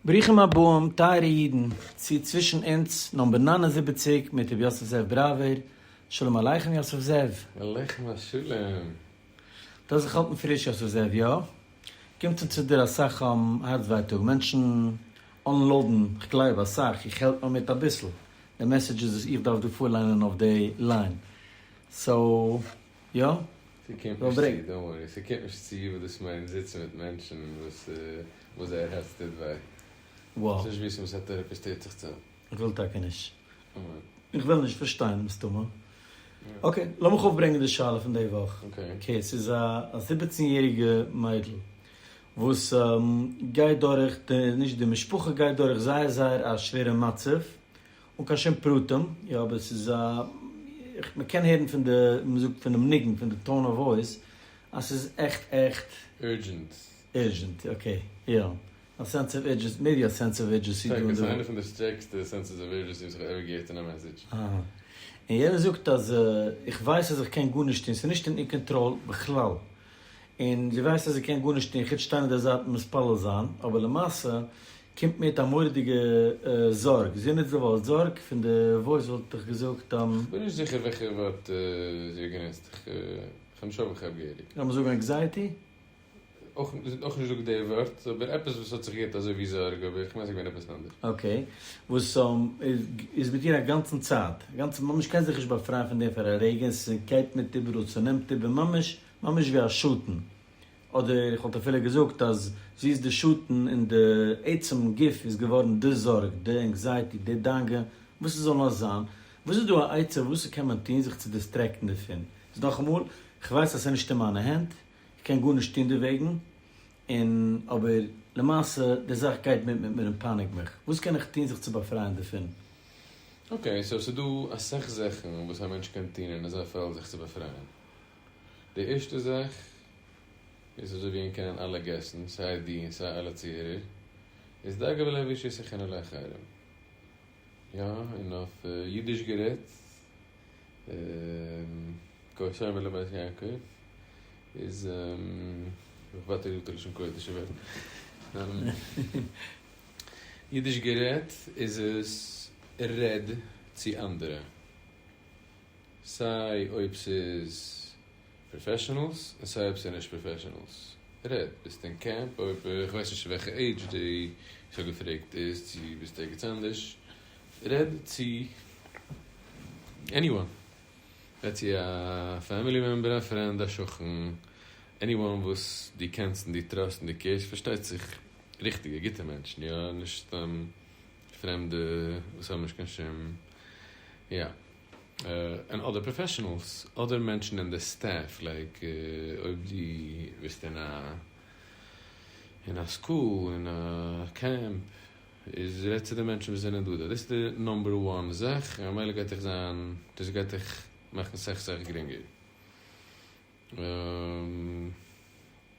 ברוכים הבאים טייערע אידן צו צווישן אונז נאמבער נײַן און זיבעציק מיט ר' יוסף זאב בראווער, שלום עליכם יוסף זאב. עליכם השלום. דאס זיך האלטן פריש יוסף זאב יא? קומט אן צו דיר אסאך הארץ ווייטאג, מענטשן אנלאודן, כ'גלייב אסאך, איך העלפ נאר מיט אביסל, די מעסעדזשעס וואס איך דארף דא פארליינען אויף די ליין, סאו. יא? ס'קומט נישט צו, דאנט ווארי, ס'קומט נישט צו וואס דאס מיינט זיצן מיט מענטשן וואס וואס זייער הערץ טוט וויי. וואו? ס'נישט וויסן וואס א טעראפיסט טוט זיך צו. איך וויל טאקע נישט. איך וויל נישט פארשטיין מסתמא. אקעי, לאמיך אויפברענגען די שאלה פון די וואך. אקעי, ס'איז א זיבעצן יעריגע מיידל וואס גייט דורך, נישט די משפחה גייט דורך זייער זייער א שווערע מצב, אן קיין שום פרטים, יא אבער ס'איז א, איך, מ'קען הערן פון די, ווי מ'זאגט פונעם ניגון, פון די טאון אוו וואויס, אז ס'איז עכט עכט. ערדזשענט. ערדזשענט, אקעי, יא. א סענס אוו ערדזשעסי, מעיבי א סענס אוו ערדזשעסי דא און דארט. ס'איז איינע פון די שטערקסטע סענסעס אוו ערדזשעסי וואס כ'האב עווער געהערט אין א מעסעדזש. אהא. און יענער זאגט אז איך ווייס אז איך קען גארנישט טון, ס'איז נישט אין איר קאנטראל בכלל. און זי ווייסט אז זי קען גארנישט טון חוץ שטיין אויף די זייט און מתפלל זיין, אבער למעשה. קומט מיט א מורא'דיגע זארג, זי נוצט די ווארט זארג, פון די וואויס וואלט איך געזאגט. כ'בין נישט זיכער וועלכע ווארט זי האט גענוצט, כ'בין נישט אויף כ'האב געהעריג. לאמיר זאגן עקזייעטי? אויך, זי האט אויך נישט געזאגט די ווארט, אבער עפעס וואס האט זיך געהערט אזוי ווי זארג, אבער כ'מיין ס'געווען עפעס אנדערש. אקעי, וואס איז מיט איר א גאנצן צייט, א גאנצע ממש קען זיך נישט באפרייען פון דעם פאר א רגע, ס'גייט מיט איבעראל, ס'נעמט איבער ממש, ממש ווי א שטן. אדער איך וואלט אפילו געזאגט אז זי איז די שטן און די עצם גוף איז געווארן די זארג, די ענקזייעטי, די דאגה, וואס עס זאל נאר זיין, וואס איז דא א עצה וואס קען מען טון זיך צו דיסטרעקטן דערפון, איז נאכאמאל, איך ווייס אז עס איז נישט אין מיינע הענט, איך קען גארנישט טון דערוועגן, און אבער למעשה די זאך גייט מיט מיט מיר און פייניגט מיך, וואס קען איך טון זיך צו באפרייען דערפון? אקעי, סאו עס איז דא אסאך זאכן וואס א מענטש קען טון אין אזא פעלד זיך צו באפרייען, די ערשטע זאך איז אזוי ווי אין קענען אלע געסן סיי די און סיי אלע צוהערער איז דאגה ולהביא שישכן אל החרם יא און אויף אידיש גערעדט קאושרים אל בית יעקב איז כ'וואטער גוט לשון קודש אבער אידיש גערעדט איז עס רעד צו אנדערע סיי אויב ס'איז פראפעשענעלס און סיי אויב ס'איז נישט פראפעשענעלס, רעד, ביסט אין קעמפ אויב, איך ווייס נישט וועלכע עידזש די, איך האב געפרעגט דאס, צו ביסט ערגעץ אנדערש, רעד צו עניוואן, רעד צו א פעמילי מעמבער, א פרענד, א שכן, עניוואן וואס דו קענסט און דו טראסט און דו קעירסט, פארשטייט זיך ריכטיגע גוטע מענטשן, יא, נישט סתם פרעמדע וואס האבן נישט קיין שום יא און אדער פראפעשענעלס אדער מענטשן אין די סטעף לייק אויב דו ביסט אין א אין א סקול אין א קעמפ איז רעד צו די מענטשן וואס זענען דא דארט דאס איז די נאמבער וואן זאך און ממילא גייט דיך זיין דאס גייט דיך מאכן סאך סאך גרינגער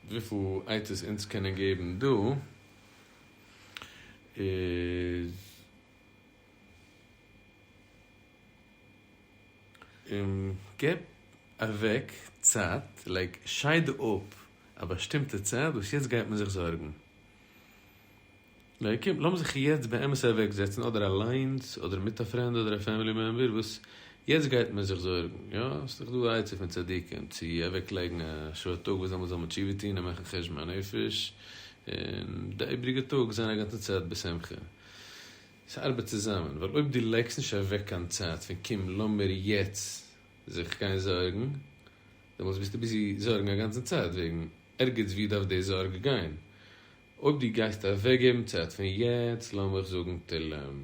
וויפיל עצות אונז קענען געבן דא. איז און גיב אוועק צייט, לייג שייד אפ א באשטימטע צייט וואס יעצט גייט מען זיך זארגן. קום לאמיר זיך יעצט באמת אוועקזעצן אדער אליינס אדער מיט א פרענד אדער א פעמילי מעמבער וואס יעצט גייט מען זיך זארגן, יא? ס'איז דאך דא א עצה פון צדיקים צו אוועקלייגן א שעה א טאג וואס דעמאלטס זאל מען תשובה טון און מאכן חשבון הנפש, און די איבריגע טאג זיין א גאנצע צייט בשמחה. ס'ארבעט צוזאמען, ווייל אויב דו לייגסט נישט אוועק קיין צייט פון קום לאמיר יעצט זיך גיין זארגן, דעמאלטס ביסטו ביזי זארגן א גאנצן צייט וועגן ערגעץ וואו דארף די זארג גיין. אויב דו גייסט אוועקגעבן צייט פון יעצט, לאמיך זאגן תהלים.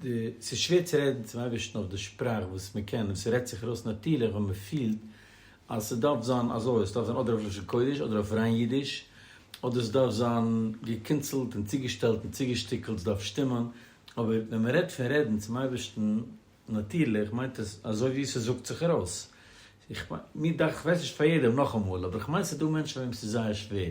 די, ס'איז שווער צו רעדן צום אייבערשטן אויף די שפראך וואס מען קען, און ס'רעדט זיך ארויס נאטירליך ווען מען פילט אז ס'דארף זיין אזוי, ס'דארף זיין אדער אויף לשון קודש אדער אויף ריין אידיש, אדער ס'דארף זיין געקינצלט און צוגעשטעלט און צוגעשטיקלט, ס'דארף שטימען, אבער ווען מען רעדט פון רעדן צום אייבערשטן נאטירליך מיינט עס אזוי ווי ס'זאגט זיך ארויס. איך מיין, מיר דאכט, כ'ווייס נישט פאר יעדעם נאכאמאל, אבער כ'מיין ס'דא מענטשן פאר וועם ס'איז זייער שווער.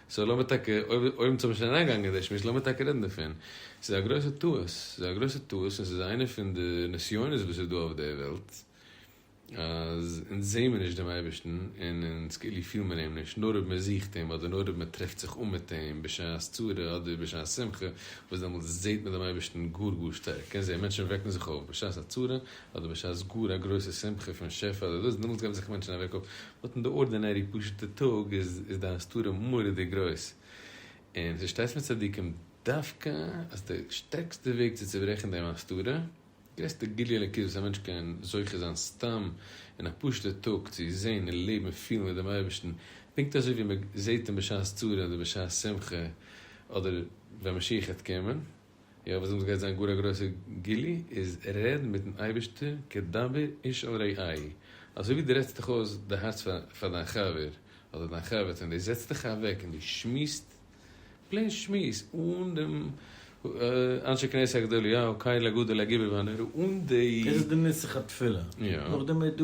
סאו לאמיר טאקע, אויב אויב אונז האבן שוין אריינגעגאנגען אין די שמועס, לאמיר טאקע רעדן דערפון. ס'איז א גרויסע טעות, ס'איז א גרויסע טעות און ס'איז איינע פון די נסיונות וואס איז דא אויף דער וועלט, אז אונז זעען מיר נישט דעם אייבערשטן און אונז כאילו פילן מיר אים נישט, נאר אויב מען זוכט אים אדער נאר אויב מען טרעפט זיך אן מיט אים בשעת צרה אדער בשעת שמחה, וואס דעמאלטס זעט מען דעם אייבערשטן גאר גאר שטארק. קענסט זען מענטשן וועקן זיך אויף בשעת א צרה אדער בשעת גאר א גרויסע שמחה פון שפע אדער דאס, דעמאלטס וועקן זיך מענטשן אוועק אויף באט אין די ארדינערי פשוטע טאג איז איז די הסתרה מורא'דיג גרויס, און ס'שטייסט מיט צדיקים דווקא אז די שטערקסטע וועג צו צוברעכן דעם הסתרה, גרעסטע גילוי אלוקית וואס א מענטש קען זוכה זיין סתם אין א פשוטע טאג צו זען און לעבן און פילן מיט דעם אייבערשטן פונקט אזוי ווי מען זעט אים בשעת צרה אדער בשעת שמחה אדער ווען משיח העט קומען. יא וואס דעמאלטס גייט זיין גאר א גרויסע גילוי איז רעד מיטן אייבערשטער כדבר איש אל רעיו, אזוי ווי דו רעדסט דיך אויס די הארץ פאר דיין חבר אדער דיין חבר'טע און דו זעצט דיך אוועק און דו שמועסט פלעין שמועס אן דעם אנשי כנסת הגדול יא קהל הגדול הגביר והנורא אן די. דאס איז די נוסח התפילה, נאכדעם איז דא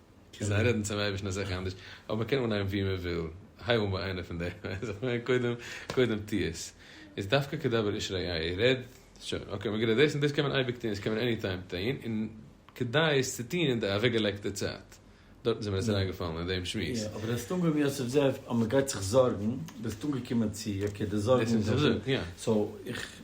קען זיין רעדן צום אייבערשטן איז זיכער אנדערש, אבער קען אנהייבן ווי מען וויל, הייב אן ביי איינע פון די, קודם קודם טו עס, איז דווקא כדבר איש רעהו, רעד, שוין, אקעי, מ'גערעדט, דאס און דאס קען מען אייביג טון, דאס קען מען עני טיים טון, און כדאי עס צו טון אין די אוועקגעלייגטע צייט, דארטן איז מיר עס אריינגעפאלן אין דעם שמועס. יא, אבער דו האסט אנגעהויבן יוסף זאב אז מ'גייט זיך זארגן, ביסט אנגעקומען צו אקעי די זארגן, סאו איך.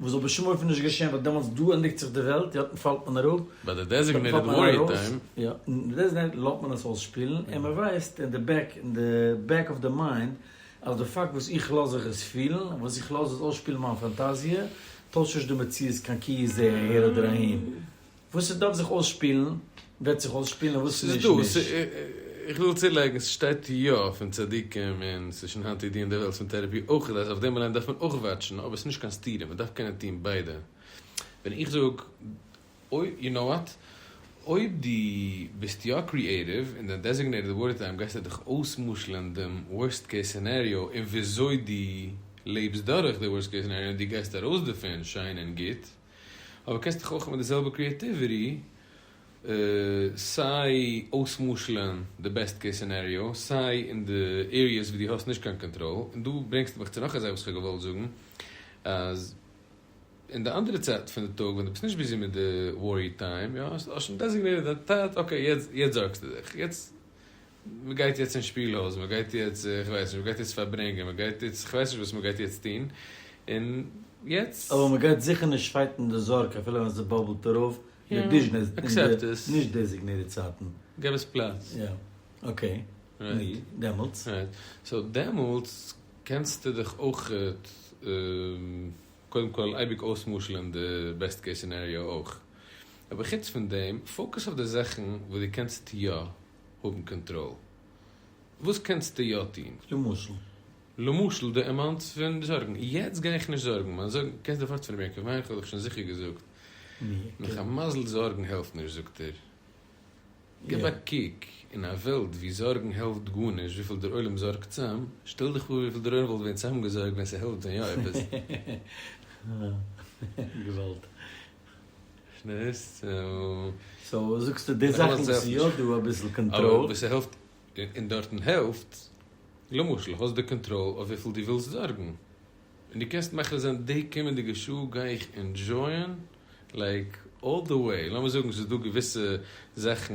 וואס זאל בשום אופן נישט געשען ווייל דעמאלטס דא ענדיגט זיך די וועלט יאטן פאלט מען אראפ, ביי די דעזיגנעיטעד וואריער טיים. יא אין די דעזיגנעיטעד לאט מען עס אויסשפילן און מען ווייסט אין די בעק אין די בעק אוו די מיינד אז די פאקט וואס איך לאז זיך עס פילן און וואס איך לאז עס אויסשפילן מיין פאנטאזיע טוישט נישט די מציאות קיין כי יזעהר אהער אדער אהין. וואס עס דארף זיך אויסשפילן וועט זיך אויסשפילן און וואס נישט נישט. איך וויל צולייגן, ס'שטייט יא פון צדיקים און ס'איז שוין היינט אידיען דערוועלט פון טערעפי אויך אז אויף דעם אליין דארף מען אויך וואטשן אבער ס'נישט קיין סתירה מ'דארף קענען טון ביידע ווען איך זאג אויב יו נאו וואט אויב דו ביסט יא קריעטיוו אין דיין דעזיגנעיטעד ווארט טיים גייסטו דיך אויסמשל'ן דעם ווארסט קעיס סינעריאו און וויאזוי דו לעבסט דורך די ווארסט קעיס סינעריאו און דו גייסט ארויס דערפון שיין און גוט. אבער קענסט דאך אויך מיט די זעלבע קריעטיוויטי סיי אויס'משל'ען די בעסט קעיס סינעריאו, סיי אין די עריעס וואו דו האסט נישט קיין קאנטראל, און דא ברענגסטו מיך צו נאך א זאך וואס איך האב געוואלט זאגן, אז אין די אנדערע צייט פון די טאג ווען דו ביסט נישט ביזי מיט די ווארי טיים, יא, האסט שוין דעזיגנעיטעד דיין צייט, אקעי, יעצט זארגסטו דיך, יעצט מען גייט יעצט אין שפיל הויז, מען גייט יעצט, איך ווייס נישט, מען גייט יעצט פארברענגען, מען גייט יעצט, כ'ווייס נישט וואס מען גייט יעצט טון, און יעצט. אבער מען גייט זיכער נישט פייטן די זארג אפילו ווען עס באבלט ארויף אין די דיזשנעס אין די נישט דעזיגנירט צייטן. געב עס פלאץ. יא. אקעי. נו, דעמאלטס? רייט. סאו דעמאלטס קענסטו דיך אויך קודם כל אייביג אויס'משל'ען די בעסט קעיס סינעריאו אויך. אבער חוץ פון דעם, פאוקוס אויף די זאכן וואס דו קענסט יא, האבן קאנטראל. וואס קענסטו יא טון? למשל? למשל די אמאונטס פון די זארגן. יעצט גיי איך נישט זארגן מיין זארגן. קענסט דיר פארצטעלן ווי א קווין איך האב דיך שוין זיכער געזאגט. נאך א מזל זארגן העלפט נישט זאגט ער. גיב א קוק אין א וועלט ווי זארגן העלפט גארנישט וויפיל דער עולם זארגט צאם. שטעל דיך פאר וויפיל דער עולם וואלט געווען צאמגעזארגט ווען ס'העלפט ווען יא עפעס. געוואלד. שנירסט און. סאו זאגסטו די זאכן וואס איז יא דא אביסל קאנטראל. אבער וואס העלפט און דארטן העלפט, למשל האסט די קאנטראל אויף וויפיל דו ווילסט זארגן, און דו קענסט מחליט זיין די קומענדיגע שעה גיי איך ענדזשויען לייק אלל די וועי, לאמיר זאגן ס'איז דא געוויסע זאכן.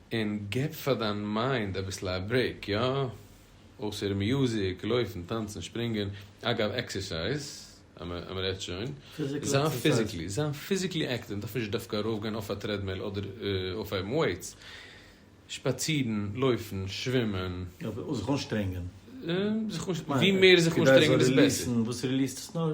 און גיב פאר דיין מיינד אביסל א ברעיק, יא? אויסער מיוזיק, לויפן, טאנצן, שפרינגען, אגב עקסערסייז אז מען רעדט שוין, זיין פיזיקלי, זיין פיזיקלי עקטיוו, מען דארף נישט דווקא ארויף גיין אויף א טרעדמיל אדער אויפהייבן וועיטס, שפאצירן, לויפן, שווימען. זיך אנשטרענגען. ווי מער זיך אנשטרענגען איז בעסער. וואס ריליעסט עס נאר.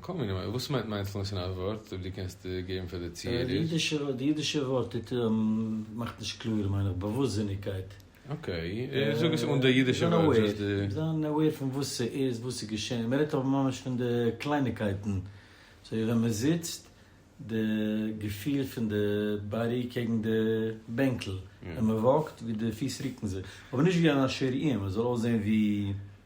קאם אן נאו, וואס מיינט מיינדפולנעס אין א ווארט אויב דו קענסט געבן פאר די צוהערער? די אידישע ווארט מאכט נישט קלאר מיין איך באוואוסטזיניגקייט. אקעי, זאג עס אן די אידישע ווארט. זיין אוועיר פון וואס ס'איז, וואס איז געשען, מען רעדט אבער ממש פון די קלייניקייטן, אזוי ווי ווען מען זיצט, די געפיל פון די באדי קעגן די בענקל, ווען מען וואקט ווי די פיס רוקן זיך, אבער נישט ווי אן אשר איהם, עס זאל אויסזעהן ווי.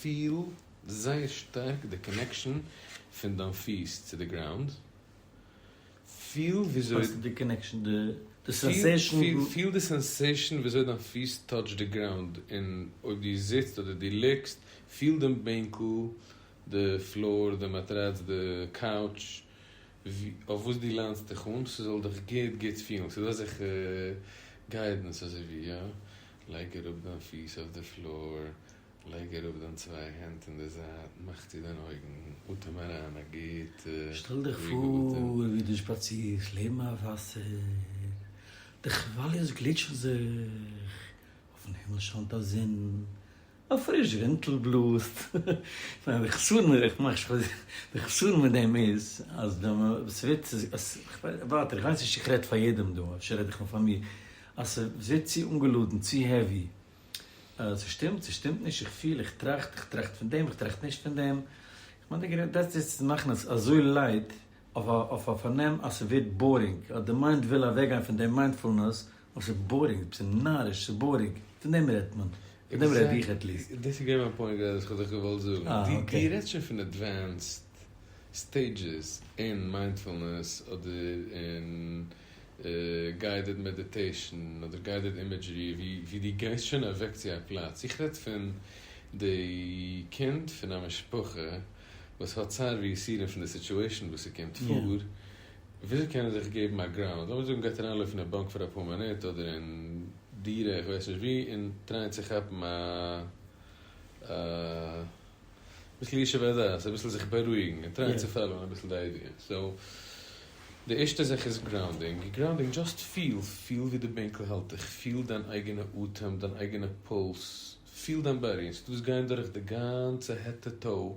פיל זייער שטארק די קאנעקשאן פון דיין פיס צו די גראונד, פיל וויאזוי, וואס איז די קאנעקשאן? די די סענסעישאן? פיל די סענסעישאן וויאזוי דיין פיס טאטש די גראונד, און אויב דו זיצט אדער דו ליגסט, פיל דעם בענקל, די פלאר, די מאטראץ, די קאוטש, אויף וואס דו ליינסט דיך אן, ס'זאל דיך גוט גוט פילן, ס'איז דא אזעלכע גיידענס אזויווי יא, לייג אראפ דיין פיס אויף די פלאר, לייג אראפ דיין צוויי הענט אין די זייט, מאך צו דיין אויגן, אטעם אריין א גוטע שטעל דיך רואיגע אטעם. פאר ווי דו שפאצירסט לעבן א וואסער, די כוואליעס גליטשן זיך, אויפן הימל שיינט א זון, א פריש ווינטל בלאזט. ניין די חסרון איז איך מאך שוין די חסרון מיט דעם איז אז דער ס'ווערט אז ווארט איך ווייס נישט צו כ'רעד פאר יעדעם דא אפשר רעד איך נאר פאר מיר אז ס'ווערט צו אנגעלאדענט צו העווי ס'שטימט ס'שטימט נישט איך פיל איך טראכט איך טראכט פון דעם איך טראכט נישט פון דעם איך מיין די גרעסטע דעטס איט צו מאכן עס אזוי לייט אויף א פארנעם אז ס'ווערט בארינג אז די מיינד וויל אוועקגיין פון דעם מיינדפולנעס אבער ס'איז בארינג, ס'איז נאריש, ס'איז בארינג, פון דעם רעדט מען, פון דעם רעד איך עטליעסט. דאס איז געווען מיין פוינט גראדע וואס איך האב דיך געוואלט זאגן, דו רעדסט שוין פון עדווענסד סטעידזשעס אין מיינדפולנעס אדער אין גיידעד מעדיטעישן אדער גיידעד אימעדזשערי ווי דו גייסט שוין אוועק צו א פלאץ, איך רעד פון די קינד פון א משפחה וואס האט צער ויסורים פון די סיטועשן וואס ס'קומט פאר, וויאזוי קען ער זיך געבן א גראם? אז לאמיר זאגן גייט ער אריינלויפן אין באנק פאר אפאר מינוט אדער אין דירה איך ווייס נישט ווי און טרייען צו כאפן א א ביסל ישוב הדעת אביסל זיך בארואיגן און טרייען צו פאלאון אביסל די איידיע סאו די ערשטע זאך איז גראונדינג גראונדינג דזשאסט פיל פיל ווי די בענקל האלט דיך פיל דיין אייגענע אטעם דיין אייגענע פולס פיל דיין באדי און ס'דא וואס גייען דורך די גאנצע העט טו טאו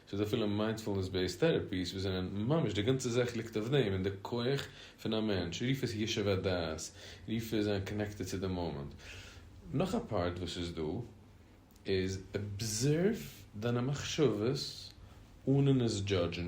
ס'איז אפילו מיינדפולנעס בעיסד טערעפיס וואס זענען ממש די גאנצע זאך ליגט אויף דעם און די כח פון א מענטש, רוף עס ישוב הדעת, רוף עס זיין קאנעקטעד צו די מאמענט. נאך א פארט וואס איז דא איז אבזערוו דיינע מחשבות אנן עס דזשאדזשן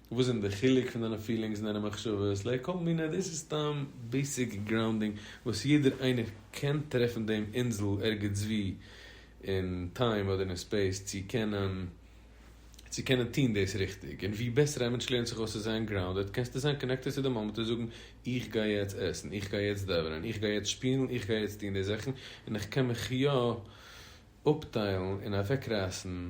וואס זענען די חילוק פון דיינע פילינגס און דיינע מחשבות לע כל מיני דאס איז סתם בעיסיק גראונדינג וואס יעדער איינער קען טרעפן דעם אינזל ערגעצווי אין טיים אדער אין ספעיס צו קענען צו קענען טון דאס ריכטיג און ווי בעסער א מענטש לערנט זיך אויס צו זיין גראונדעד קענסטו זיין קאנעקטעד צו די מאמענט און זאגן איך גיי יעצט עסן איך גיי יעצט דאווענען איך גיי יעצט שפילן איך גיי יעצט טון די זאכן און איך קען מיך יא אפטיילן און אוועקרייסן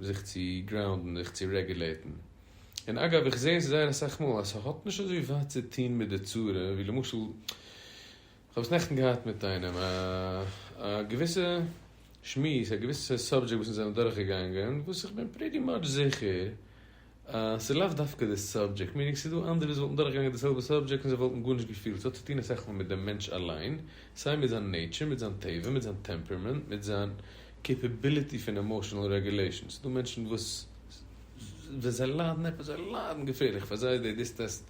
זיך צו גראונדן זיך צו רעגולעטן, און אגב איך זעה עס זייער אסאך מאל אז סהאט נישט אזוי ווייט צו טוהן מיט די צורה, ווי למשל איך האב עס נעכטן געהאט מיט איינעם א געוויסע שמועס א געוויסע סאבדזשעקט וואס אונז זענען דורכגעגאנגען וואס איך בין פריטי מאטש זיכער, ס'איז לאו דווקא די סאבדזשעקט, מיענינג ס'איז דא אנדערע וואס וואלטן דורכגעגאנגען די זעלבע סאבדזשעקט און זיי וואלטן גארנישט געפילט, ס'האט צוטון אסאך מאל מיט דעם מענטש אליין, סיי מיט זיין נעיטשער, מיט זיין טבע, מיט זיין טעמפערמענט, מיט זיין קעיפעביליטי פון עמאשענעל רעגולעישאן, ס'איז דא מענטשן וואס ווען זיי ליידן עפעס, זיי ליידן געפערליך, פאר זיי איז די דיסטעסט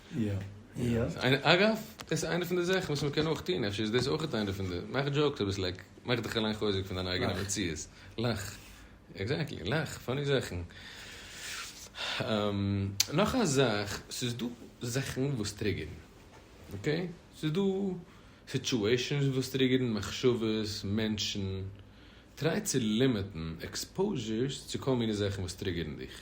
אגב, דאס איז איינע פון די זאכן וואס מען קען אויך טון, אפשר איז דאס אויך איינע פון די, מאך דזשאוקס אביסל, לייק, מאך דיך אליין חוזק פון דיין אייגענע מציאות, לאך, עקזעקטלי, לאך, פאני זאכן. נאך א זאך, ס'איז דא זאכן וואס טריגערן, אקעי? ס'איז דא סיטשועישאנס וואס טריגערן, מחשבות, מענטשן, טריי צו לימיטן עקספאוזשערס צו כל מיני זאכן וואס טריגערן דיך,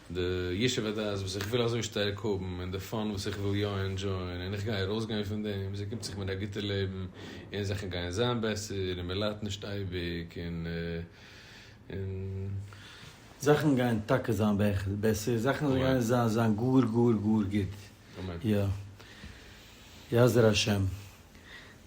די ישוב הדעת וואס איך וויל אזוי שטארק האבן, און די פאן וואס איך וויל יא ענדזשויען, און איך גיי ארויסגיין פון דעם, זי קומט זיך מיר א גוטע לעבן, און זאכן גייען זיין בעסער, און מען ליידט נישט אייביג, און. זאכן גייען טאקע זיין בעסער, זאכן גייען זיין גאר גאר גאר גוט, יא יעזר השם.